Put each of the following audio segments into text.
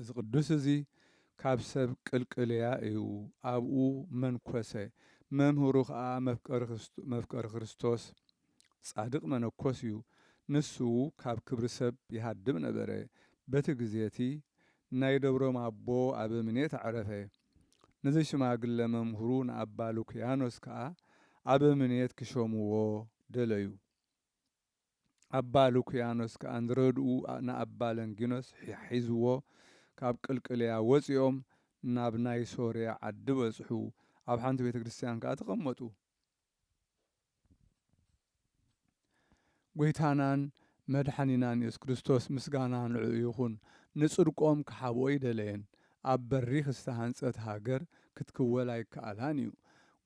እዚ ቅዱስ እዚ ካብ ሰብ ቅልቅልያ እዩ፣ ኣብኡ መንኰሰ፣ መምህሩ ኸኣ መፍቀሪ ክርስቶስ ጻድቕ መነኮስ እዩ፣ ንሱ ካብ ክብሪ ሰብ ይሃድም ነበረ፣ በቲ ግዜ እቲ ናይ ደብሮም ኣቦ ኣበምኔት ኣዕረፈ፣ ነዚ ሽማግለ መምህሩ ንኣባ ሉክያኖስ ከኣ ኣበምኔት ኪሾምዎ ደለዩ። ኣባ ሉክያኖስ ከኣ ዝረድኡ ንኣባ ለንጊኖስ ሒዝዎ ካብ ቅልቅልያ ወጺኦም ናብ ናይ ሶርያ ዓዲ በጽሑ፣ ኣብ ሓንቲ ቤተ ክርስትያን ከኣ ተቐመጡ። ጐይታናን መድሓኒናን የሱስ ክርስቶስ ምስጋና ንዕኡ ይኹን ንጽድቆም ክሓብኦ ኣይደለየን፣ ኣብ በሪኽ ዝተሃንጸት ሃገር ክትክወል ኣይከኣላን እዩ።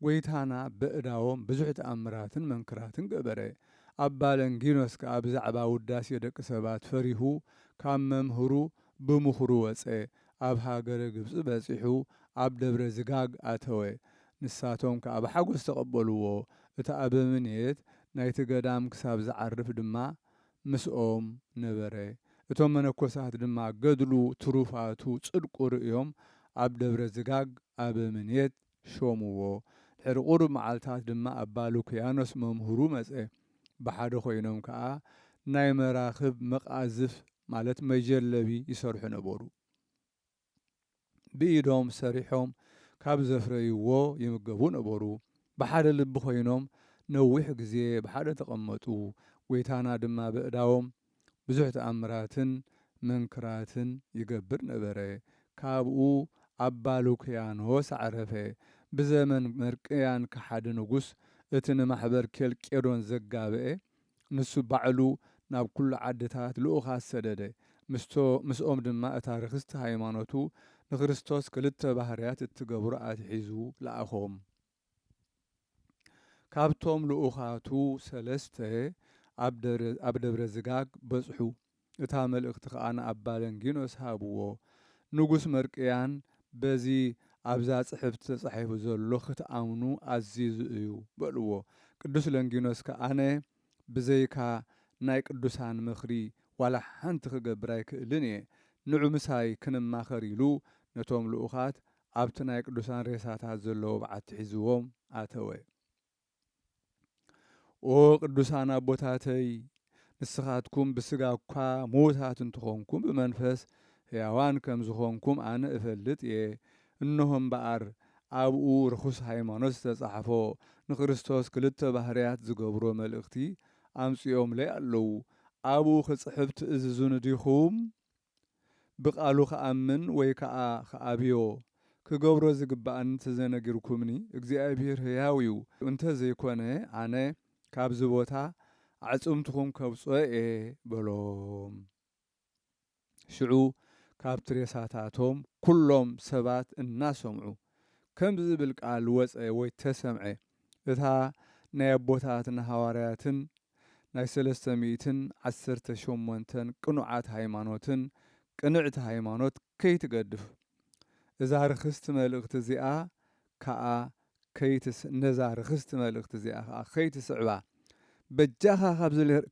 ጐይታና በእዳዎም ብዙሕ ተኣምራትን መንክራትን ገበረ። ኣባ ለንጊኖስ ከኣ ብዛዕባ ውዳሴ ደቂ ሰባት ፈሪሁ ካብ መምህሩ ብምኽሩ ወጸ። ኣብ ሃገረ ግብጺ በጺሑ ኣብ ደብረ ዝጋግ ኣተወ። ንሳቶም ከኣ ብሓጐስ ተቐበልዎ። እቲ ኣበምኔት ናይቲ ገዳም ክሳብ ዝዓርፍ ድማ ምስኦም ነበረ። እቶም መነኮሳት ድማ ገድሉ ትሩፋቱ ጽድቁ ርእዮም ኣብ ደብረ ዝጋግ ኣበምኔት ሾምዎ። ድሕሪ ቁሩብ መዓልታት ድማ ኣባ ሉክያኖስ መምህሩ መጸ። ብሓደ ኮይኖም ከኣ ናይ መራኽብ መቃዝፍ ማለት መጀለቢ ይሰርሑ ነበሩ። ብኢዶም ሰሪሖም ካብ ዘፍረይዎ ይምገቡ ነበሩ። ብሓደ ልቢ ኮይኖም ነዊሕ ግዜ ብሓደ ተቐመጡ። ጎይታና ድማ በእዳዎም ብዙሕ ተኣምራትን መንክራትን ይገብር ነበረ። ካብኡ ኣባ ሉክያኖስ ኣዕረፈ። ብዘመን መርቅያን ከሓዲ ንጉስ እቲ ንማሕበር ኬልቄዶን ዘጋበኤ ንሱ ባዕሉ ናብ ኩሉ ዓድታት ልኡኻት ሰደደ፣ ምስቶ ምስኦም ድማ እታ ርኽስቲ ሃይማኖቱ ንክርስቶስ ክልተ ባህርያት እትገብሮ ኣትሒዙ ለኣኾም። ካብቶም ልኡኻቱ ሰለስተ ኣብ ደብረ ዝጋግ በጽሑ። እታ መልእኽቲ ከኣ ንኣባ ለንጊኖስ ሃብዎ። ንጉስ መርቅያን በዚ ኣብዛ ጽሕፍቲ ተጻሒፉ ዘሎ ክትኣምኑ ኣዚዙ እዩ በልዎ። ቅዱስ ለንጊኖስ ከኣ ኣነ ብዘይካ ናይ ቅዱሳን ምኽሪ ዋላ ሓንቲ ክገብር ኣይክእልን እየ። ንዑ ምሳይ ክንማኸር ኢሉ ነቶም ልኡኻት ኣብቲ ናይ ቅዱሳን ሬሳታት ዘለዎ በዓቲ ሒዝዎም ኣተወ። ኦ ቅዱሳን ኣቦታተይ ንስኻትኩም ብስጋ እኳ ምዉታት እንትኾንኩም ብመንፈስ ሕያዋን ከም ዝኾንኩም ኣነ እፈልጥ እየ። እንሆ እምበኣር ኣብኡ ርኹስ ሃይማኖት ዝተጻሕፎ ንክርስቶስ ክልተ ባህርያት ዝገብሮ መልእኽቲ ኣምጺኦምለይ ኣለዉ። ኣብኡ ክጽሕፍ ትእዝዙኒ ዲኹም? ብቃሉ ክኣምን ወይ ከኣ ክኣብዮ ክገብሮ ዝግባእኒ እንተዘነጊርኩምኒ እግዚኣብሂር ህያው እዩ እንተዘይኮነ ኣነ ካብዚ ቦታ ኣዕጽምትኹም ከውጽኦ እየ በሎም ሽዑ ካብቲ ሬሳታቶም ኩሎም ሰባት እናሰምዑ ከምዚ ዝብል ቃል ወጸ ወይ ተሰምዐ እታ ናይ ኣቦታትና ሃዋርያትን ናይ ሰለስተ ሚእትን ዓሰርተ ሸሞንተን ቅኑዓት ሃይማኖትን ቅንዕቲ ሃይማኖት ከይትገድፍ እዛ ርኽስቲ መልእኽቲ እዚኣ ከኣ ከይትስ ነዛ ርኽስቲ መልእኽቲ እዚኣ ከኣ ከይትስዕባ በጃኻ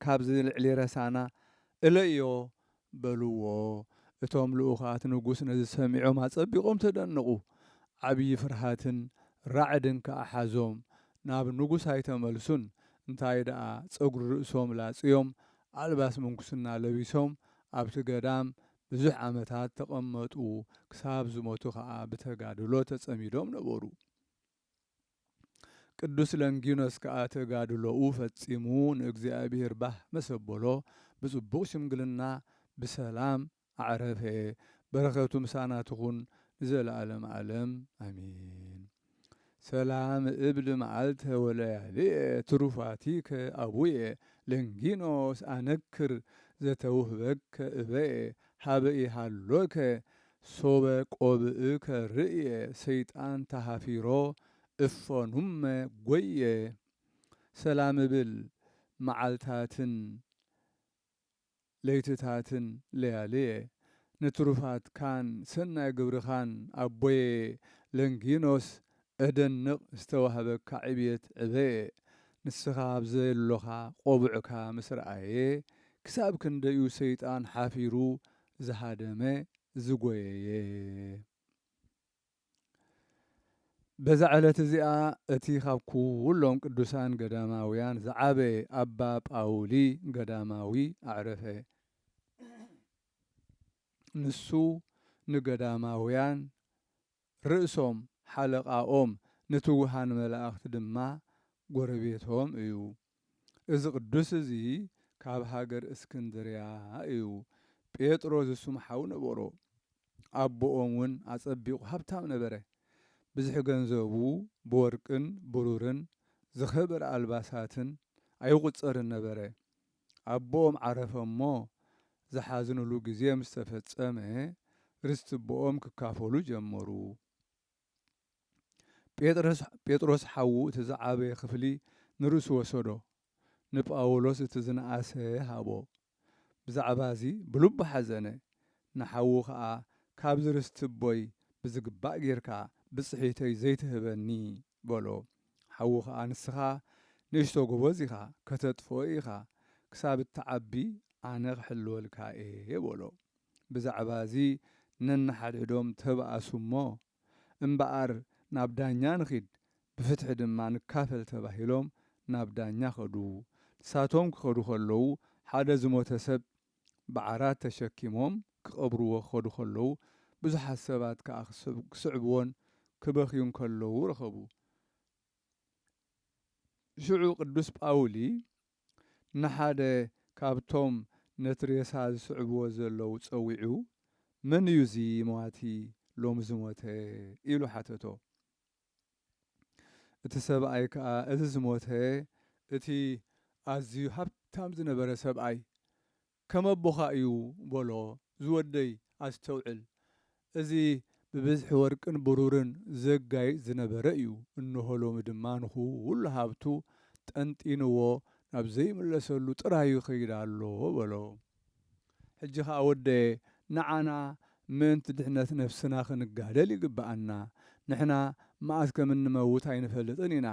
ካብዚ ልዕሊ ረሳና እለዮ በልዎ። እቶም ልኡኻት ንጉስ ነዚ ሰሚዖም ኣጸቢቖም ተደነቑ፣ ዓብዪ ፍርሃትን ራዕድን ከኣ ሓዞም፣ ናብ ንጉስ ኣይተመልሱን፣ እንታይ ደኣ ጸጕሪ ርእሶም ላጽዮም፣ ኣልባስ ምንኩስና ለቢሶም ኣብቲ ገዳም ብዙሕ ዓመታት ተቐመጡ፣ ክሳብ ዝሞቱ ኸኣ ብተጋድሎ ተጸሚዶም ነበሩ። ቅዱስ ለንጊኖስ ከኣ ተጋድሎኡ ፈጺሙ ንእግዚኣብሔር ባህ መሰ ኣቦሎ ብጽቡቕ ሽምግልና ብሰላም ኣዕረፈ። በረከቱ ምሳና ትኹን ንዘለዓለመ ዓለም ኣሜን። ሰላም እብል መዓልተ ወለያልየ ትሩፋቲከ ኣቡየ ለንጊኖስ ኣነክር ዘተውህበከ እበየ ሀበ ኢሃሎከ ሶበ ቆብእከ ርእየ ሰይጣን ተሃፊሮ እፎ ኑመ ጎየ ሰላምብል መዓልታትን ለይትታትን ለያልየ ንትሩፋትካን ሰናይ ግብርኻን ኣቦየ ለንጊኖስ እደንቕ ዝተዋህበካ ዕብየት ዕበየ ንስኻ ኣብ ዘሎኻ ቆቡዕካ ምስ ረኣየ ክሳብ ክንደዩ ሰይጣን ሓፊሩ ዝሃደመ ዝጎየየ። በዛ ዕለት እዚኣ እቲ ካብ ኩሎም ቅዱሳን ገዳማውያን ዝዓበየ ኣባ ጳውሊ ገዳማዊ ኣዕረፈ። ንሱ ንገዳማውያን ርእሶም ሓለቓኦም ንትጉሃን መላእኽት ድማ ጎረቤቶም እዩ። እዚ ቅዱስ እዚ ካብ ሃገር እስክንድርያ እዩ። ጴጥሮ ዝሱም ሓው ነበሮ። ኣቦኦም ውን ኣጸቢቑ ሃብታም ነበረ። ብዝሒ ገንዘቡ ብወርቅን ብሩርን ዝኸበረ ኣልባሳትን ኣይቑጸርን ነበረ። ኣቦኦም ዓረፈ እሞ ዝሓዝንሉ ግዜ ምስ ተፈጸመ ርስቲ ኣቦኦም ክካፈሉ ጀመሩ። ጴጥሮስ ሓዉ እቲ ዝዓበየ ክፍሊ ንርእሱ ወሰዶ፣ ንጳውሎስ እቲ ዝነኣሰ ሃቦ። ብዛዕባ እዚ ብልቡ ሓዘነ፣ ንሓዉ ኸኣ ካብዚ ርስቲ ኣቦይ ብዝግባእ ጌርካ ብጽሒተይ ዘይትህበኒ? በሎ። ሓዉ ከኣ ንስኻ ንእሽቶ ጎበዝ ኢኻ ከተጥፍኦ ኢኻ ክሳብ እትዓቢ ኣነ ክሕልወልካ እየ በሎ ብዛዕባ እዚ ነንሓድሕዶም ተባኣሱ እሞ እምበኣር ናብ ዳኛ ንኺድ ብፍትሒ ድማ ንካፈል ተባሂሎም ናብ ዳኛ ከዱ ንሳቶም ክኸዱ ከለዉ ሓደ ዝሞተ ሰብ ብዓራት ተሸኪሞም ክቐብርዎ ክኸዱ ከለዉ፣ ብዙሓት ሰባት ከኣ ክስዕብዎን ክበኽዩን ከለዉ ረኸቡ። ሽዑ ቅዱስ ጳውሊ ንሓደ ካብቶም ነቲ ሬሳ ዝስዕብዎ ዘለዉ ጸዊዑ፣ መን እዩ እዚ መዋቲ ሎሚ ዝሞተ? ኢሉ ሓተቶ። እቲ ሰብኣይ ከኣ እዚ ዝሞተ እቲ ኣዝዩ ሃብታም ዝነበረ ሰብኣይ ከም ኣቦኻ እዩ በሎ፣ ዝወደይ ኣስተውዕል፣ እዚ ብብዝሒ ወርቅን ብሩርን ዘጋይጽ ዝነበረ እዩ፣ እንሆ ሎሚ ድማ ንኹሉ ሃብቱ ጠንጢንዎ ናብ ዘይምለሰሉ ጥራዩ ይኸይድ ኣሎ በሎ። ሕጂ ከኣ ወደየ ንዓና ምእንቲ ድሕነት ነፍስና ክንጋደል ይግብኣና። ንሕና መኣስ ከም እንመውት ኣይንፈልጥን ኢና።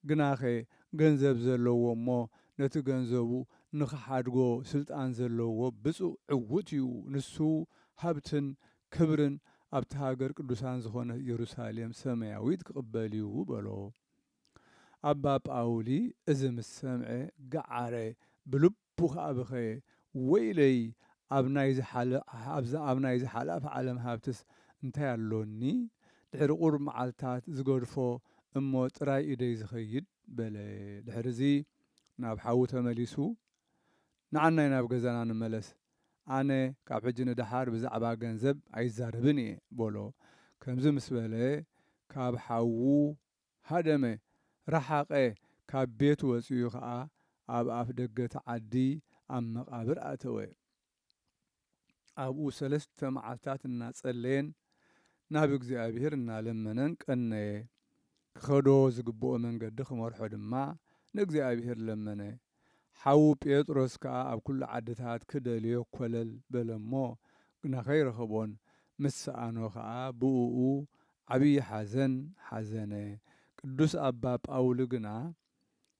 ግናኸ ገንዘብ ዘለዎ እሞ ነቲ ገንዘቡ ንኽሓድጎ ስልጣን ዘለዎ ብጹእ ዕዉት እዩ፣ ንሱ ሃብትን ክብርን ኣብታ ሃገር ቅዱሳን ዝኾነት ኢየሩሳሌም ሰማያዊት ክቕበል እዩ በሎ። ኣባ ጳውሊ እዚ ምስ ሰምዐ ገዓረ፣ ብልቡ ቡኽ ኣብኸ ወይለይ ኣብ ናይ ዝሓለ ኣብዛ ኣብ ናይ ዝሓላፍ ዓለም ሃብትስ እንታይ ኣሎኒ ድሕሪ ቁሩብ መዓልታት ዝገድፎ እሞ ጥራይ ኢደይ ዝኸይድ በለ ድሕርዚ ናብ ሓዉ ተመሊሱ ንዓናይ ናብ ገዛና ንመለስ ኣነ ካብ ሕጂ ንደሓር ብዛዕባ ገንዘብ ኣይዛረብን እየ በሎ ከምዚ ምስ በለ ካብ ሓዉ ሃደመ፣ ረሓቐ፣ ካብ ቤት ወጺኡ ከኣ ኣብ ኣፍ ደገ'ቲ ዓዲ ኣብ መቓብር ኣተወ። ኣብኡ ሰለስተ መዓልታት እናጸለየን ናብ እግዚኣብሄር እናለመነን ቀነየ። ክኸዶ ዝግብኦ መንገዲ ክመርሖ ድማ ንእግዚኣብሄር ለመነ። ሓዉ ጴጥሮስ ከኣ ኣብ ኵሉ ዓድታት ክደልዮ ኰለል በለ እሞ፣ ግና ከይረኸቦን ምስ ሰኣኖ ኸኣ ብእኡ ዓብዪ ሓዘን ሓዘነ። ቅዱስ ኣባ ጳውሊ ግና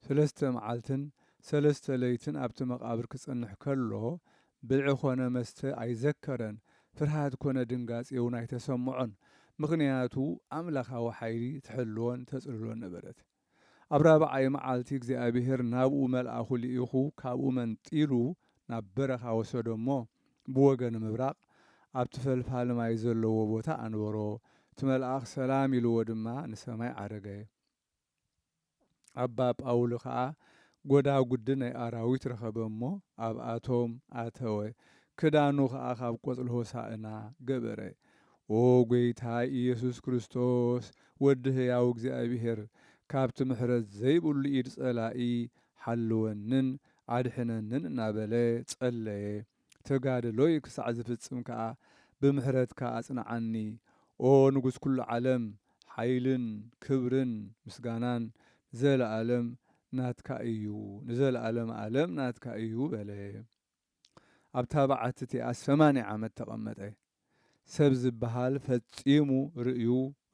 ሰለስተ መዓልትን ሰለስተ ለይትን ኣብቲ መቓብር ክጸንሕ ከሎ፣ ብልዒ ዀነ መስተ ኣይዘከረን፣ ፍርሃት ኰነ ድንጋጼውን ኣይተሰምዖን፣ ምኽንያቱ ኣምላኻዊ ሓይሊ ትሕልዎን ተጽልሎን ነበረት። ኣብ ራብዓይ መዓልቲ እግዚኣብሄር ናብኡ መልኣኹ ልኢኹ ካብኡ መንጢሉ ናብ በረኻ ወሰዶ እሞ ብወገን ምብራቕ ኣብቲ ፈልፋሊ ማይ ዘለዎ ቦታ ኣንበሮ፣ እቲ መልኣኽ ሰላም ኢልዎ ድማ ንሰማይ ዓረገ። ኣባ ጳውሊ ከኣ ጐዳጉዲ ናይ ኣራዊት ረኸበ እሞ ኣብኣቶም ኣተወ፣ ክዳኑ ኸኣ ካብ ቆጽሊ ሆሳእና ገበረ። ኦ ጎይታ ኢየሱስ ክርስቶስ ወዲ ህያው እግዚኣብሔር ካብቲ ምሕረት ዘይብሉ ኢድ ጸላኢ ሓልወንን ኣድሕነንን እናበለ ጸለየ ተጋድሎይ ክሳዕ ዝፍጽም ከኣ ብምሕረትካ ኣጽንዓኒ ኦ ንጉሥ ኩሉ ዓለም ሓይልን ክብርን ምስጋናን ንዘለዓለም ናትካ እዩ ንዘለዓለም ኣለም ናትካ እዩ በለ። ኣብታ በዓቲ እቲኣስ ሰማንያ ዓመት ተቐመጠ። ሰብ ዝበሃል ፈጺሙ ርእዩ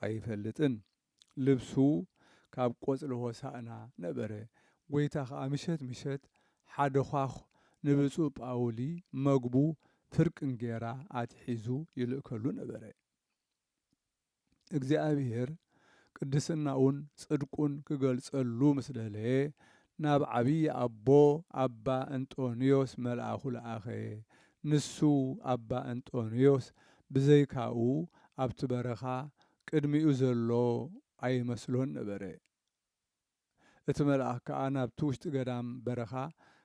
ኣይፈልጥን። ልብሱ ካብ ቆጽሊ ሆሳእና ነበረ። ጐይታ ኸኣ ምሸት ምሸት ሓደ ዃዅ ንብጹእ ጳውሊ መግቡ ፍርቂ እንጌራ ኣትሒዙ ይልእከሉ ነበረ። እግዚኣብሄር ቅድስናኡን ጽድቁን ክገልጸሉ ምስ ደለየ ናብ ዓብዪ ኣቦ ኣባ እንጦንዮስ መልኣኹ ለኣኸ። ንሱ ኣባ እንጦንዮስ ብዘይካኡ ኣብቲ በረኻ ቅድሚኡ ዘሎ ኣይመስሎን ነበረ። እቲ መልኣኽ ከኣ ናብቲ ውሽጢ ገዳም፣ በረኻ፣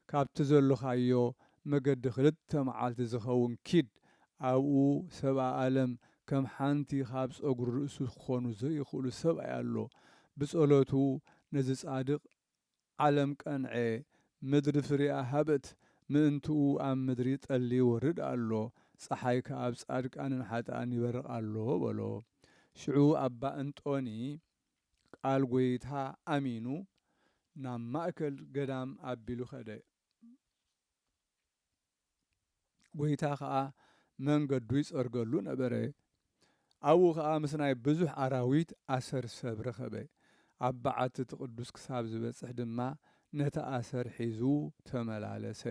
ካብቲ ዘሎኻዮ መገዲ ክልተ መዓልቲ ዚኸውን ኪድ፣ ኣብኡ ሰብኣ ኣለም ከም ሓንቲ ኻብ ጸጕሪ ርእሱ ኪኾኑ ዘይኽእሉ ሰብኣይ ኣሎ፣ ብጸሎቱ ነዚ ጻድቕ፣ ዓለም ቀንዔ፣ ምድሪ ፍሬኣ ሃበት፣ ምእንትኡ ኣብ ምድሪ ጠሊ ይወርድ ኣሎ፣ ጸሓይ ከኣ ኣብ ጻድቃንን ሓጥኣን ይበርቕ ኣሎ፣ በሎ። ሽዑ ኣባ እንጦኒ ቃል ጐይታ ኣሚኑ ናብ ማእከል ገዳም ኣቢሉ ከደ። ጐይታ ከኣ መንገዱ ይጸርገሉ ነበረ። ኣብኡ ከኣ ምስ ናይ ብዙሕ ኣራዊት ኣሰር ሰብ ረኸበ። ኣብ በዓቲ እቲ ቅዱስ ክሳብ ዝበጽሕ ድማ ነቲ ኣሰር ሒዙ ተመላለሰ።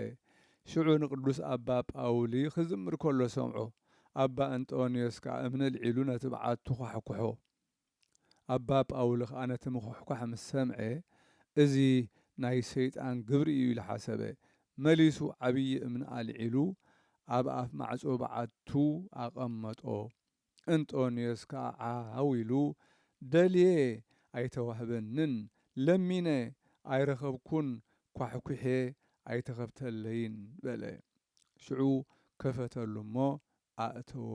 ሽዑ ንቅዱስ ኣባ ጳውሊ ክዝምር ከሎ ሰምዖ። ኣባ እንጦንዮስ ከኣ እምኒ ኣልዒሉ ነቲ በዓቱ ኳሕኵሖ። ኣባ ጳውሊ ኸኣ ነቲ ምዅሕኳሕ ምስ ሰምዔ፣ እዚ ናይ ሰይጣን ግብሪ እዩ ኢሉ ሓሰበ። መሊሱ ዓብዪ እምኒ ኣልዒሉ ኣብ ኣፍ ማዕጾ በዓቱ ኣቐመጦ። እንጦንዮስ ከኣ ዓው ኢሉ፣ ደልየ ኣይተዋህበንን፣ ለሚነ ኣይረኸብኩን፣ ኳሕኲሔ ኣይተኸፍተለይን በለ። ሽዑ ከፈተሉ እሞ ኣእተዎ፣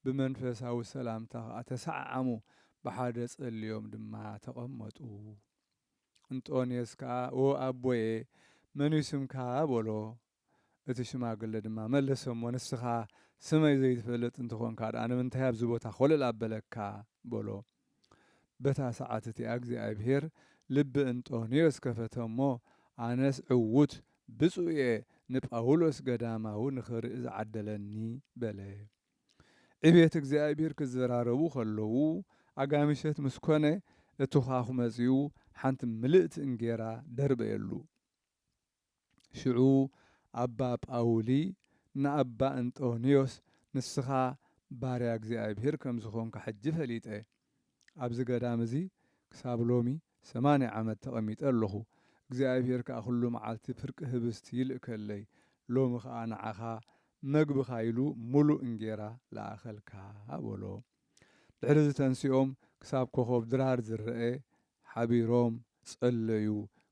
ብመንፈሳዊ ሰላምታ ኸኣ ተሰዓዓሙ፣ ብሓደ ጸልዮም ድማ ተቐመጡ። እንጦንየስ ከኣ ኦ ኣቦየ፣ መንዩ ስምካ? በሎ። እቲ ሽማግለ ድማ መለሰ እሞ፣ ንስኻ ስመይ ዘይትፈልጥ እንተኾንካ ደኣ ንምንታይ ኣብዚ ቦታ ኾለል ኣበለካ? በሎ። በታ ሰዓት እቲኣ እግዚኣብሄር ልቢ እንጦንዮስ ከፈተ እሞ፣ ኣነስ ዕዉት ብጹእ እየ ንጳውሎስ ገዳማዊ ንኽርኢ ዝዓደለኒ በለ። ዕቤት እግዚኣብሄር ክዘራረቡ ከለዉ ኣጋምሸት ምስ ኮነ እቲ ዃዅ መጺኡ ሓንቲ ምልእቲ እንጌራ ደርበየሉ። ሽዑ ኣባ ጳውሊ ንኣባ እንጦንዮስ ንስኻ ባርያ እግዚኣብሔር ከም ዝኾንካ ሕጂ ፈሊጠ። ኣብዚ ገዳም እዚ ክሳብ ሎሚ ሰማንያ ዓመት ተቐሚጠ ኣሎኹ። እግዚኣብሔር ከኣ ኩሉ መዓልቲ ፍርቂ ህብስት ይልእከለይ፣ ሎሚ ከኣ ንዓኻ መግብኻ ኢሉ ምሉእ እንጌራ ለኣኸልካ በሎ። ድሕሪ እዚ ተንሲኦም ክሳብ ኮኾብ ድራር ዝረኤ ሓቢሮም ጸለዩ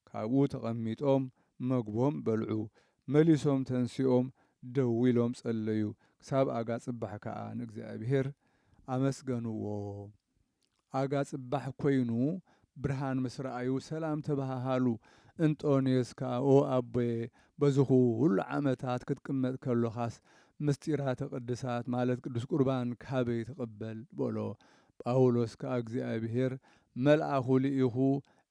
ካብኡ ተቐሚጦም መግቦም በልዑ መሊሶም ተንሲኦም ደው ኢሎም ጸለዩ ክሳብ ኣጋ ጽባሕ ከኣ ንእግዚኣብሄር ኣመስገንዎ ኣጋ ጽባሕ ኮይኑ ብርሃን ምስ ረኣዩ ሰላም ተበሃሃሉ። እንጦንዮስ ከኣ ኦ ኣቦየ በዚ ኹሉ ዓመታት ክትቅመጥ ከሎኻስ ምሥጢራተ ቅድሳት ማለት ቅዱስ ቍርባን ካበይ ትቕበል? በሎ። ጳውሎስ ከኣ እግዚኣብሔር መልኣኹ ልኢኹ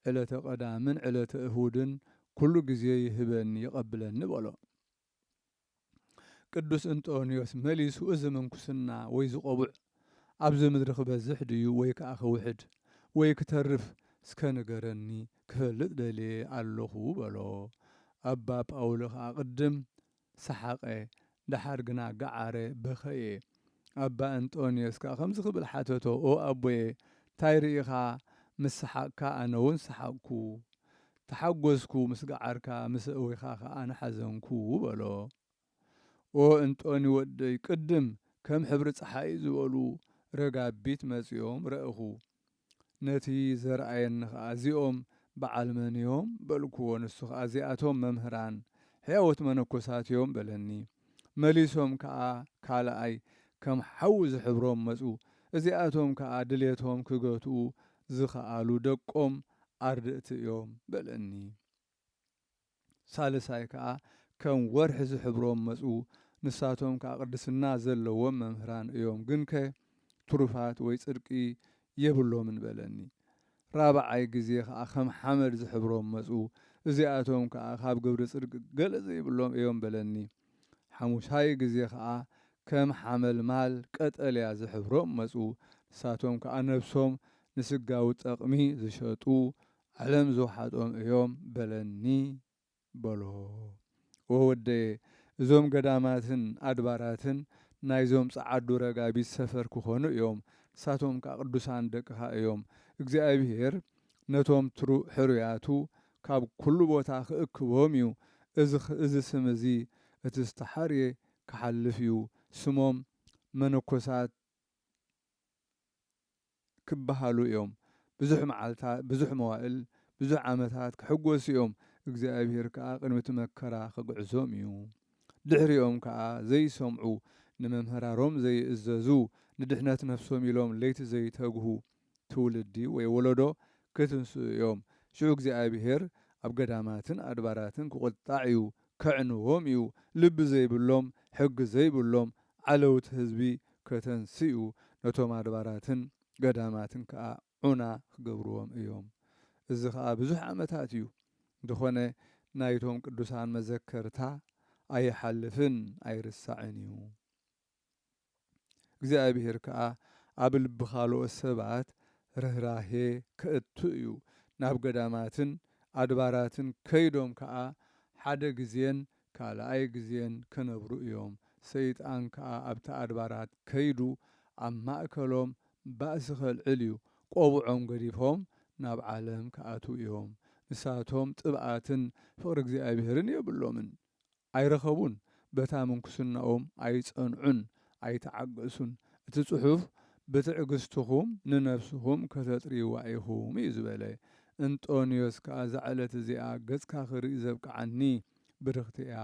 ዕለተ ቀዳምን ዕለተ እሁድን ኵሉ ጊዜ ይህበኒ ይቐብለኒ በሎ። ቅዱስ እንጦንዮስ መሊሱ እዚ ምንኩስና ወይ ዝቆቡዕ ኣብዚ ምድሪ ክበዝሕ ድዩ ወይ ከኣ ክውሕድ ወይ ክተርፍ እስከ ንገረኒ ክፈልጥ ደልየ ኣሎኹ በሎ ኣባ ጳውሊ ከኣ ቅድም ሰሓቀ ደሓር ግና ገዓረ በኸየ ኣባ እንጦንዮስ ከኣ ከምዚ ክብል ሓተቶ ኦ ኣቦየ ታይ ርኢኻ ምስ ሰሓቅካ ኣነውን ሰሓቅኩ ተሓጐስኩ፣ ምስ ገዓርካ ምስ ኣእዊኻ ኸኣ ንሓዘንኩ በሎ። ኦ እንጦኒ ወደይ፣ ቅድም ከም ሕብሪ ጸሓይ ዝበሉ ረጋቢት መጺኦም ረእኹ። ነቲ ዘርኣየኒ ኸኣ እዚኦም በዓል መን እዮም? በልክዎ። ንሱ ኸኣ እዚኣቶም መምህራን ሕያዎት መነኮሳት እዮም በለኒ። መሊሶም ከኣ ካልኣይ ከም ሓዊ ዝሕብሮም መጹ። እዚኣቶም ከኣ ድሌቶም ክገትኡ ዝኸኣሉ ደቆም ኣርድእቲ እዮም በለኒ። ሳልሳይ ከኣ ከም ወርሒ ዝሕብሮም መጹ፣ ንሳቶም ከኣ ቅድስና ዘለዎም መምህራን እዮም፣ ግንከ ትሩፋት ወይ ጽድቂ የብሎምን በለኒ። ራብዓይ ግዜ ከኣ ከም ሓመድ ዝሕብሮም መጹ፣ እዚኣቶም ከኣ ካብ ግብሪ ጽድቂ ገለ ዘይብሎም እዮም በለኒ። ሓሙሻይ ግዜ ከኣ ከም ሓመልማል ቀጠልያ ዝሕብሮም መጹ፣ ንሳቶም ከኣ ነብሶም ንስጋዊ ጠቕሚ ዝሸጡ ዓለም ዝውሓጦም እዮም በለኒ በሎ። ኦህ ወደየ እዞም ገዳማትን ኣድባራትን ናይዞም ጸዓዱ ረጋቢት ሰፈር ክኾኑ እዮም፣ ንሳቶም ከኣ ቅዱሳን ደቅኻ እዮም፣ እግዚኣብሄር ነቶም ሕሩያቱ ካብ ኵሉ ቦታ ኺእክቦም እዩ። እዚ ስም እዚ፣ እቲ ዝተሓርየ ኪሓልፍ እዩ። ስሞም፣ መነኰሳት ኪበሃሉ እዮም። ብዙሕ መዓልታት፣ ብዙሕ መዋእል፣ ብዙሕ ዓመታት ኪሕጐሱ እዮም። እግዚኣብሄር ከኣ ቅድሚ እቲ መከራ ኺግዕዞም እዩ። ድሕሪኦም ከኣ፣ ዘይሰምዑ፣ ንመምህራሮም ዘይእዘዙ፣ ንድሕነት ነፍሶም ኢሎም ለይቲ ዘይተግሁ፣ ትውልዲ ወይ ወለዶ ኪትንስኡ እዮም። ሽዑ እግዚኣብሄር ኣብ ገዳማትን ኣድባራትን ኪቝጣዕ እዩ፣ ኬዕንዎም እዩ፣ ልቢ ዘይብሎም፣ ሕጊ ዘይብሎም ዓለውቲ ህዝቢ ከተንስእ እዩ፣ ነቶም ኣድባራትን ገዳማትን ከኣ ዑና ኪገብርዎም እዮም። እዚ ኸኣ ብዙሕ ዓመታት እዩ፣ እንተኾነ ናይቶም ቅዱሳን መዘከርታ ኣይሓልፍን ኣይርሳዕን እዩ። እግዚኣብሄር ከኣ ኣብ ልቢ ካልኦት ሰባት ርህራሄ ከእቱ እዩ። ናብ ገዳማትን ኣድባራትን ከይዶም ከኣ ሓደ ግዜን ካልኣይ ግዜን ክነብሩ እዮም። ሰይጣን ከኣ ኣብቲ ኣድባራት ከይዱ ኣብ ማእከሎም ባእሲ ከልዕል እዩ። ቆብዖም ገዲፎም ናብ ዓለም ክኣትዉ እዮም። ንሳቶም ጥብኣትን ፍቕሪ እግዚኣብሄርን የብሎምን። ኣይረኸቡን፣ በታ ምንኩስናኦም ኣይጸንዑን፣ ኣይተዓገሱን፣ እቲ ጽሑፍ ብትዕግስትኹም ንነፍስኹም ከተጥርይዋ ኢኹም እዩ ዝበለ። እንጦንዮስ ከኣ እዛ ዕለት እዚኣ ገጽካ ክርኢ ዘብቅዓኒ ብርኽቲ እያ፣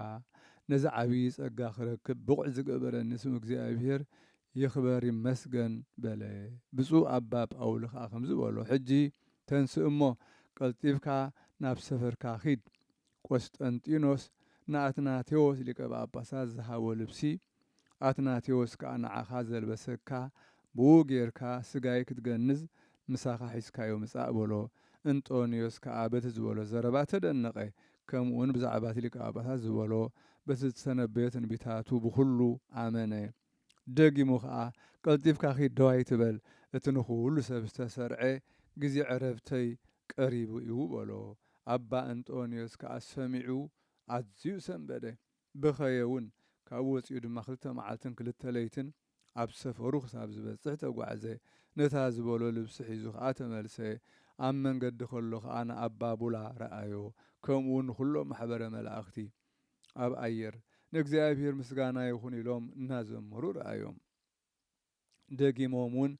ነዚ ዓብዪ ጸጋ ክረክብ ብቑዕ ዝገበረኒ ስም እግዚኣብሔር ይኽበር ይመስገን በለ። ብፁዕ ኣባ ጳውሊ ከኣ ከምዚ በሎ ሕጂ ተንስእ እሞ ቀልጢፍካ ናብ ሰፈርካ ኪድ፣ ቈስጠንጢኖስ ንኣትናቴዎስ ሊቀ ጳጳሳት ዝሃቦ ልብሲ፣ ኣትናቴዎስ ከኣ ንዓኻ ዘልበሰካ፣ ብእኡ ጌርካ ስጋይ ክትገንዝ ምሳኻ ሒዝካዮ ምጻእ በሎ። እንጦንዮስ ከኣ በቲ ዝበሎ ዘረባ ተደነቐ፣ ከምኡውን ብዛዕባ እቲ ሊቀ ጳጳሳት ዝበሎ በቲ ዝተነበዮ ትንቢታቱ ብዅሉ ኣመነ። ደጊሙ ከኣ ቀልጢፍካ ኪድ ደው ኣይትበል፣ እቲ ንዅሉ ሰብ ዝተሰርዐ ግዜ ዕረብተይ ቀሪቡ እዩ በሎ። ኣባ እንጦንዮስ ከኣ ሰሚዑ ኣዝዩ ሰንበደ፣ በኸየ እውን። ካብኡ ወጺኡ ድማ ክልተ መዓልትን ክልተ ለይትን ኣብ ሰፈሩ ክሳብ ዝበጽሕ ተጓዕዘ። ነታ ዝበሎ ልብሲ ሒዙ ከኣ ተመልሰ። ኣብ መንገዲ ከሎ ከኣ ንኣባ ቡላ ረኣዮ፣ ከምኡውን ንዅሎም ማሕበረ መላእኽቲ። ኣብ ኣየር ንእግዚኣብሔር ምስጋና ይኹን ኢሎም እናዘመሩ ረኣዮም። ደጊሞም እውን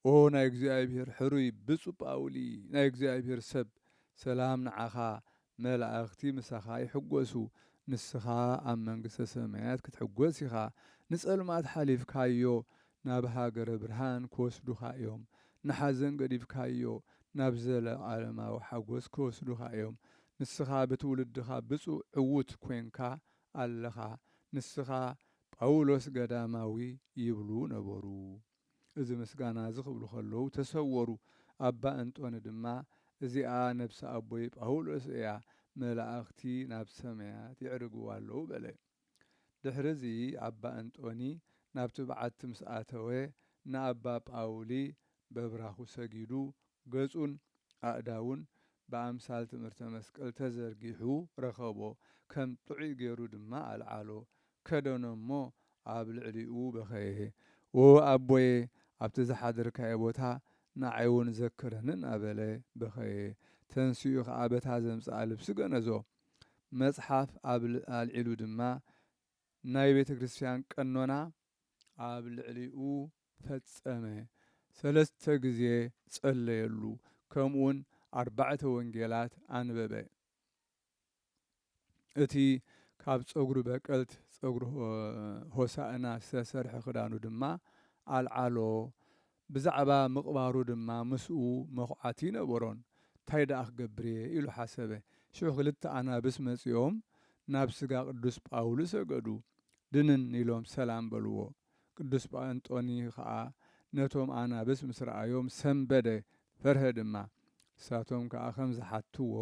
ኦ ናይ እግዚኣብሔር ሕሩይ ብጹእ ጳውሊ ናይ እግዚኣብሔር ሰብ ሰላም ንዓኻ መላእኽቲ ምሳኻ ይሕጎሱ ንስኻ ኣብ መንግስተ ሰማያት ክትሕጎስ ኢኻ ንጸልማት ሓሊፍካዮ ናብ ሃገረ ብርሃን ክወስዱኻ እዮም፣ ንሓዘን ገዲፍካዮ ናብ ዘለዓለማዊ ሓጎስ ክወስዱኻ እዮም። ንስኻ ብትውልድኻ ብጹእ ዕዉት ኮንካ ኣለኻ፣ ንስኻ ጳውሎስ ገዳማዊ ይብሉ ነበሩ። እዚ ምስጋና እዚ ክብሉ ከለዉ ተሰወሩ። ኣባ እንጦኒ ድማ እዚኣ ነብሲ ኣቦይ ጳውሎስ እያ፣ መላእኽቲ ናብ ሰማያት የዕርግዋ ኣለዉ በለ። ድሕርዚ ኣባ እንጦኒ ናብቲ በዓቲ ምስ ኣተወ ንኣባ ጳውሊ በብራኹ ሰጊዱ ገጹን ኣእዳዉን ብኣምሳል ትምህርተ መስቀል ተዘርጊሑ ረኸቦ ከም ጥዑይ ገሩ ድማ ኣልዓሎ ከደኖ እሞ ኣብ ልዕሊኡ በኸየ ዎ ኣቦየ ኣብቲ ዝሓደርካዮ ቦታ ንዓይ ዉን ዘክረኒ እናበለ በኸየ ተንሲኡ ከኣ በታ ዘምጽኣ ልብሲ ገነዞ መጽሓፍ ኣብ ኣልዒሉ ድማ ናይ ቤተ ክርስቲያን ቀኖና ኣብ ልዕሊኡ ፈጸመ፣ ሰለስተ ግዜ ጸለየሉ፣ ከምኡውን ኣርባዕተ ወንጌላት ኣንበበ። እቲ ካብ ጸጕሪ በቀልት፣ ጸጕሪ ሆሳእና፣ ዝተሰርሐ ክዳኑ ድማ ኣልዓሎ፣ ብዛዕባ ምቕባሩ ድማ ምስኡ መዅዓቲ ኣይነበሮን። ታይ ደኣ ክገብር እየ? ኢሉ ሓሰበ። ሽዑ ክልተ ኣናብስ መጺኦም ናብ ስጋ ቅዱስ ጳውሊ ሰገዱ። ድንን ኢሎም ሰላም በልዎ። ቅዱስ ጳንጦኒ ኸኣ ነቶም ኣናብስ ምስ ረኣዮም ሰምበደ፣ ፈርሀ ድማ። ንሳቶም ከኣ ከም ዝሓትዎ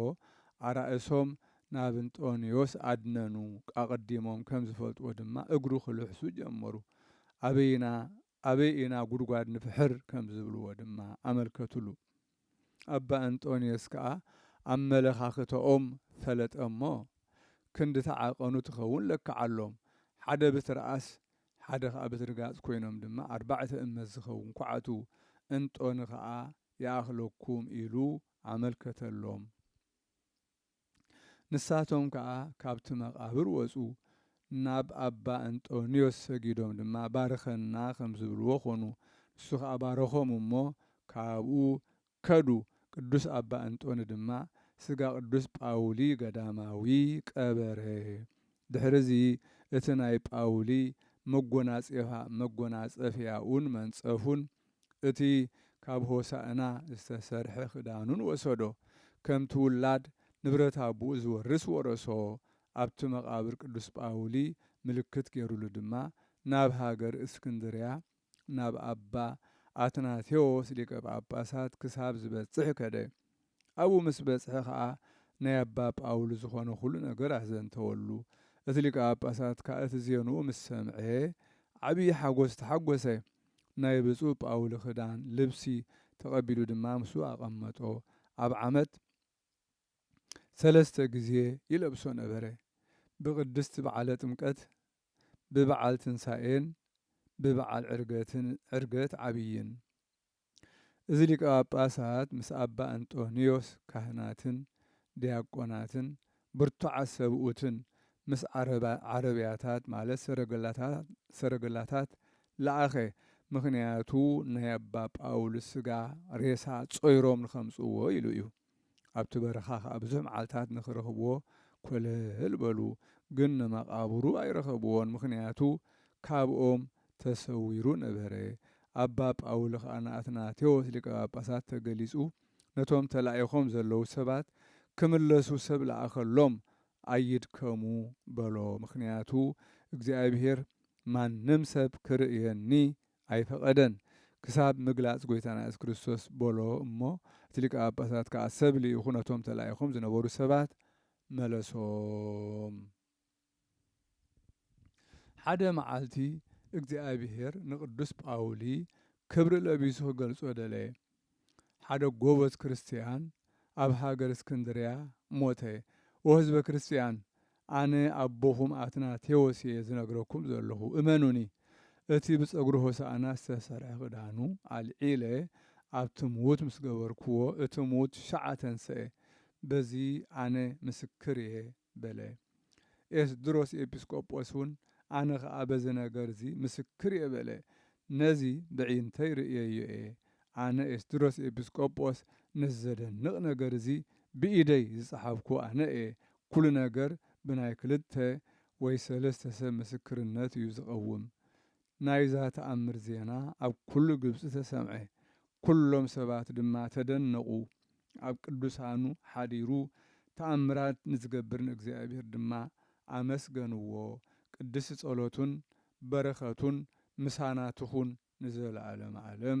ኣራእሶም ናብ እንጦንዮስ ኣድነኑ፣ ኣቐዲሞም ከም ዝፈልጥዎ ድማ እግሩ ክልሕሱ ጀመሩ። ኣበይና ኣበይ ኢና ጉድጓድ ንፍሕር ከም ዝብልዎ ድማ ኣመልከቱሉ። ኣባ እንጦንዮስ ከኣ ኣመለኻኽተኦም ፈለጠ እሞ፣ ክንዲ ተዓቀኑ ትኸውን ለከዓሎም። ሓደ ብትርኣስ ሓደ ከኣ ብትርጋጽ ኮይኖም ድማ ኣርባዕተ እመት ዝኸውን ኳዕቱ እንጦኒ ከኣ ይኣኽለኩም ኢሉ ኣመልከተሎም። ንሳቶም ከኣ ካብቲ መቓብር ወጹ፣ ናብ ኣባ እንጦንዮስ ሰጊዶም ድማ ባርኸና ከም ዝብልዎ ዀኑ። ንሱ ኸኣ ባረኾም እሞ ካብኡ ከዱ፣ ቅዱስ ኣባ እንጦኒ ድማ ስጋ ቅዱስ ጳውሊ ገዳማዊ ቀበረ። ድሕርዚ እቲ ናይ ጳውሊ መጐናጼፋ መጐናጸፊያኡን መንጸፉን እቲ ካብ ሆሣእና ዝተሰርሐ ክዳኑን ወሰዶ፣ ከምቲ ውላድ ንብረት ኣቦኡ ዚወርስ ወረሶ፣ ኣብቲ መቓብር ቅዱስ ጳውሊ ምልክት ገይሩሉ ድማ ናብ ሃገር እስክንድርያ ናብ ኣባ ኣትናቴዎስ ሊቀ ጳጳሳት ክሳብ ዚበጽሕ ከደ። ኣብኡ ምስ በጽሐ ኸኣ ናይ ኣባ ጳውል ዝኾነ ዅሉ ነገር ኣዘንተወሉ። እቲ ሊቀ ጳጳሳት ከኣ እቲ ዜንኡ ምስ ሰምዔ ዓብዪ ሓጐስ ተሓጐሰ። ናይ ብፁዕ ጳውል ኽዳን፣ ልብሲ፣ ተቐቢሉ ድማ ምስኡ ኣቐመጦ። ኣብ ዓመት ሰለስተ ግዜ ይለብሶ ነበረ፣ ብቅድስት በዓለ ጥምቀት፣ ብበዓል ትንሣኤን ብበዓል ዕርገትን፣ ዕርገት ዓብይን። እዚ ሊቀ ጳጳሳት ምስ ኣባ እንጦንዮስ ካህናትን ዲያቆናትን ብርቱዓት ሰብኡትን ምስ ዓረብያታት ማለት ሰረገላታት ለኣኸ ምኽንያቱ ናይ ኣባ ጳውልስ ስጋ ሬሳ ጾይሮም ንከምጽእዎ ኢሉ እዩ። ኣብቲ በረኻ ኸኣ ብዙሕ መዓልትታት ንኽረኽብዎ ኰለል በሉ፣ ግን ንመቓብሩ ኣይረኸብዎን፣ ምኽንያቱ ካብኦም ተሰዊሩ ነበረ። ኣባ ጳውሊ ኸኣ ንኣትናቴዎስ ሊቀ ጳጳሳት ተገሊጹ ነቶም ተላኢኾም ዘለዉ ሰባት ክምለሱ ሰብ ለኣኸሎም፣ ኣይድከሙ በሎ፣ ምኽንያቱ እግዚኣብሄር ማንም ሰብ ክርእየኒ ኣይፈቐደን ክሳብ ምግላጽ ጎይታና የሱስ ክርስቶስ በሎ እሞ እቲ ሊቀ ጳጳሳት ከኣ ሰብ ልኢኹ ነቶም ተላኢኾም ዝነበሩ ሰባት መለሶም። ሓደ መዓልቲ እግዚኣብሔር ንቅዱስ ጳውሊ ክብሪ ለቢሱ ክገልጾ ደለየ። ሓደ ጎበዝ ክርስትያን ኣብ ሃገር እስክንድርያ ሞተ። ኦ ህዝበ ክርስትያን፣ ኣነ ኣቦኹም ኣትናቴዎስ እየ ዝነግረኩም ዘለኹ፣ እመኑኒ። እቲ ብጸጉሪ ሆሳእና ዝተሰርሐ ክዳኑ ኣልዒለ ኣብቲ ምዉት ምስ ገበርኩዎ፣ እቲ ምዉት ሻዕ ተንስኤ። በዚ ኣነ ምስክር እየ። በለ። ኤስድሮስ ኤጲስቆጶስውን፣ ኣነ ኸኣ በዚ ነገርዚ ምስክር እየ በለ፣ ነዚ በዒንተይ ርእየዮ እየ፣ ኣነ ኤስድሮስ ኤጲስቆጶስ ነዚ ዘደንቕ ነገር እዚ ብኢደይ ዝጸሓፍኩ ኣነ እየ፣ ኵሉ ነገር ብናይ ክልተ ወይ ሰለስተ ሰብ ምስክርነት እዩ ዝቐውም፣ ናይዛ ተኣምር ዜና ኣብ ኵሉ ግብጺ ተሰምዐ፣ ኵሎም ሰባት ድማ ተደነቑ። ኣብ ቅዱሳኑ ሓዲሩ ተኣምራት ንዚገብር ንእግዚኣብሄር ድማ ኣመስገንዎ፣ ቅድስቲ ጸሎቱን በረኸቱን ምሳና ትኹን ንዘለዓለመ ዓለም።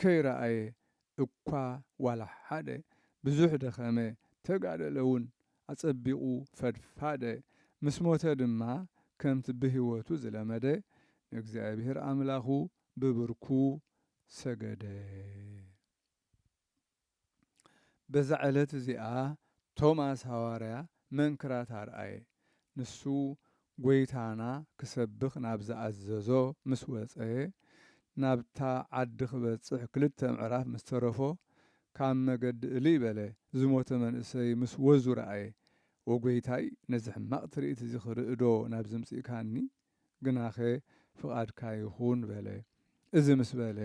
ከይረኣየ እኳ ዋላ ሓደ ብዙሕ ደኸመ ተጋደለ ውን ኣጸቢቑ ፈድፋደ ምስ ሞተ ድማ ከምቲ ብህይወቱ ዝለመደ ንእግዚኣብሔር ኣምላኹ ብብርኩ ሰገደ። በዛ ዕለት እዚኣ ቶማስ ሃዋርያ መንክራት ኣርኣየ። ንሱ ጐይታና ክሰብኽ ናብ ዝኣዘዞ ምስ ወጸ፣ ናብታ ዓዲ ክበጽሕ ክልተ ምዕራፍ ምስ ተረፎ፣ ካብ መገዲ እልይ በለ፣ ዝሞተ መንእሰይ ምስ ወዙ ረኣየ። ኦጐይታይ፣ ነዚ ሕማቕ ትርኢት እዚ ክርእዶ ናብ ዝምጽእካኒ ግናኸ ፍቓድካ ይኹን በለ። እዚ ምስ በለ፣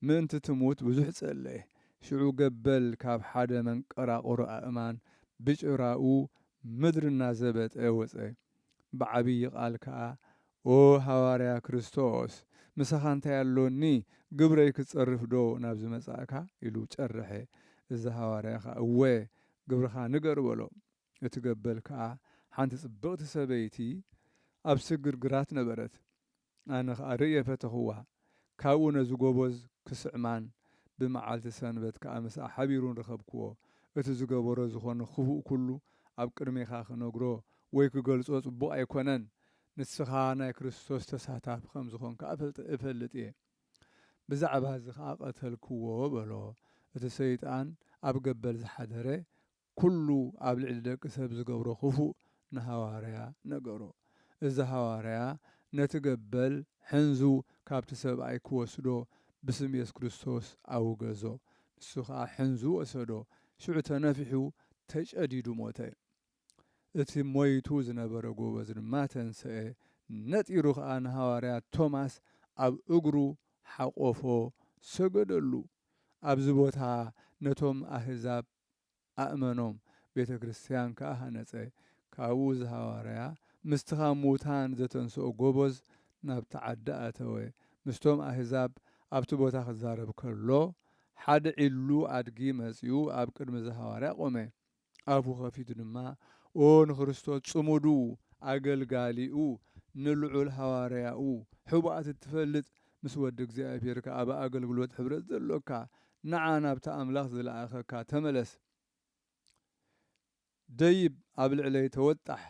ምእንቲ ትሙት ብዙሕ ጸለየ። ሽዑ ገበል ካብ ሓደ መንቀራቕሮ ኣእማን ብጭራኡ ምድሪ እናዘበጠ ወጸ። ብዓብዪ ቓል ከኣ፣ ኦ ሃዋርያ ክርስቶስ፣ ምሳኻ እንታይ ኣሎኒ፣ ግብረይ ክትጸርፍዶ ናብዚ መጻእካ? ኢሉ ጨርሐ። እዚ ሃዋርያ ኸኣ፣ እወ፣ ግብርኻ ንገር በሎ። እቲ ገበል ከኣ ሓንቲ ጽብቕቲ ሰበይቲ ኣብ ስግር ግራት ነበረት። ኣነ ኸኣ ርእየ ፈተኽዋ፣ ካብኡ ነዚ ጎበዝ ክስዕማን ብመዓልቲ ሰንበት ከኣ ምስኣ ሓቢሩን ረኸብክዎ። እቲ ዝገበሮ ዝኾነ ክፉእ ኩሉ ኣብ ቅድሜኻ ክነግሮ ወይ ክገልጾ ጽቡቕ ኣይኮነን፣ ንስኻ ናይ ክርስቶስ ተሳታፊ ከም ዝኾንካ እፈልጥ እየ። ብዛዕባ እዚ ኸኣ ቀተልክዎ በሎ፣ እቲ ሰይጣን ኣብ ገበል ዝሓደረ ኩሉ ኣብ ልዕሊ ደቂ ሰብ ዝገብሮ ክፉእ ንሃዋርያ ነገሮ። እዚ ሃዋርያ ነቲ ገበል ሕንዙ ካብቲ ሰብኣይ ክወስዶ ብስም የሱስ ክርስቶስ ኣውገዞ። ንሱ ከኣ ሕንዙ ወሰዶ፣ ሽዑ ተነፊሑ ተጨዲዱ ሞተ። እቲ ሞይቱ ዝነበረ ጎበዝ ድማ ተንሰኤ፣ ነጢሩ ከኣ ንሃዋርያ ቶማስ ኣብ እግሩ ሓቆፎ ሰገደሉ። ኣብዚ ቦታ ነቶም ኣህዛብ ኣእመኖም፣ ቤተ ክርስትያን ከኣ ሃነጸ። ካብኡ ዝሃዋርያ ምስቲ ካብ ምዉታን ዘተንስኦ ጎበዝ ናብቲ ዓዲ ኣተወ። ምስቶም ኣህዛብ ኣብቲ ቦታ ክዛረብ ከሎ፣ ሓደ ዒሉ ኣድጊ መጺኡ ኣብ ቅድሚ ዝሃዋርያ ቆመ። ኣፉ ከፊቱ ድማ ኦ ንክርስቶስ ጽሙዱ ኣገልጋሊኡ ንልዑል ሃዋርያኡ ሕቡኣት እትፈልጥ ምስ ወዲ እግዚኣብሔር ከኣ ኣብ ኣገልግሎት ሕብረት ዘሎካ ንዓ ናብቲ ኣምላኽ ዝለኣኸካ ተመለስ ደይብ ኣብ ልዕለይ ተወጣሕ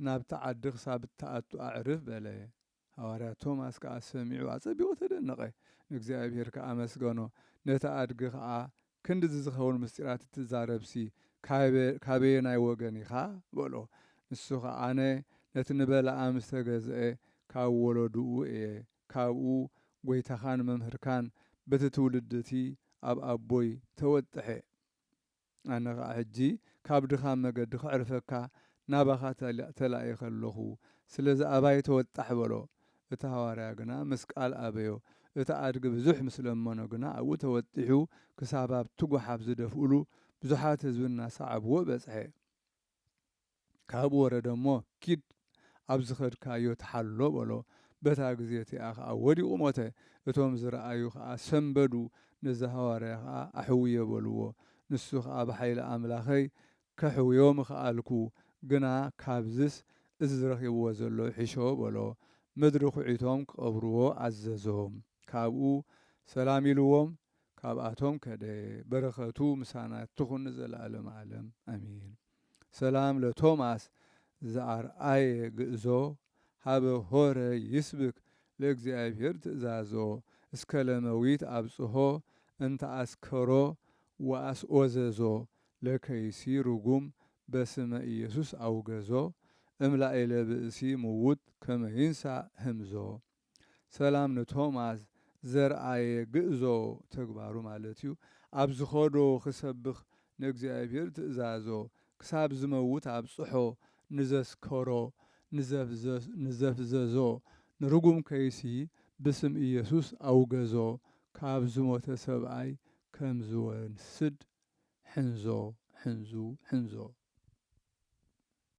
ናብቲ ዓዲ ክሳብ እትኣቱ ኣዕርፍ በለ ሃዋርያ ቶማስ ከኣ ሰሚዑ ኣጸቢቑ ተደነቐ ንእግዚኣብሔር ከኣ ኣመስገኖ ነቲ ኣድጊ ከኣ ክንድዚ ዝኸውን ምስጢራት እትዛረብሲ ካበየናይ ወገን ኢኻ? በሎ። ንሱ ኸኣ ኣነ ነቲ ንበለዓም ዝተገዝኤ ካብ ወለዱኡ እየ፣ ካብኡ ጐይታኻን መምህርካን በቲ ትውልዲ እቲ ኣብ ኣቦይ ተወጥሐ። ኣነ ኸኣ ሕጂ ካብ ድኻም መገዲ ኸዕርፈካ ናባኻ ተላኢኸ ኣሎኹ፣ ስለዚ ኣባይ ተወጣሕ በሎ። እቲ ሃዋርያ ግና ምስ ቃል ኣበዮ። እቲ ኣድጊ ብዙሕ ምስ ለመኖ ግና ኣብኡ ተወጢሑ ክሳብ ኣብቲ ጓሓፍ ዝደፍኡሉ ብዙሓት ህዝቢ እናሰዓብዎ በጽሐ። ካብኡ ወረደ እሞ ኪድ ኣብ ዝኸድካዮ ተሓሎ በሎ። በታ ግዜ እቲኣ ኸኣ ወዲቑ ሞተ። እቶም ዝረኣዩ ኸኣ ሰምበዱ፣ ነዚ ሃዋርያ ኸኣ ኣሕውዮ በልዎ። ንሱ ኸኣ ብሓይሊ ኣምላኸይ ከሕውዮ ምኸኣልኩ፣ ግና ካብዝስ እዚ ዝረኺብዎ ዘሎ ይሕሾ በሎ። ምድሪ ኹዒቶም ክቐብርዎ ኣዘዞም። ካብኡ ሰላም ኢልዎም ካብኣቶም ከደ። በረኸቱ ምሳና ትኹን ንዘለኣለመ ኣለም ኣሜን። ሰላም ለቶማስ ዘኣርኣየ ግእዞ ሀበ ሆረ ይስብክ ለእግዚኣብሔር ትእዛዞ እስከ ለመዊት ኣብጽሖ እንተ ኣስከሮ ወኣስኦዘዞ ለከይሲ ርጉም በስመ ኢየሱስ ኣውገዞ እም ላእለ ብእሲ ምውት ከመ ይንሣእ ህምዞ ሰላም ንቶማስ ዘርኣየ ግእዞ ተግባሩ ማለት እዩ ኣብ ዝኸዶ ክሰብኽ ንእግዚኣብሔር ትእዛዞ ክሳብ ዝመውት ኣብጽሖ ንዘስከሮ ንዘፍዘዞ ንርጉም ከይሲ ብስም ኢየሱስ ኣውገዞ ካብ ዝሞተ ሰብኣይ ከም ዝወስድ ሕንዞ ሕንዙ ሕንዞ።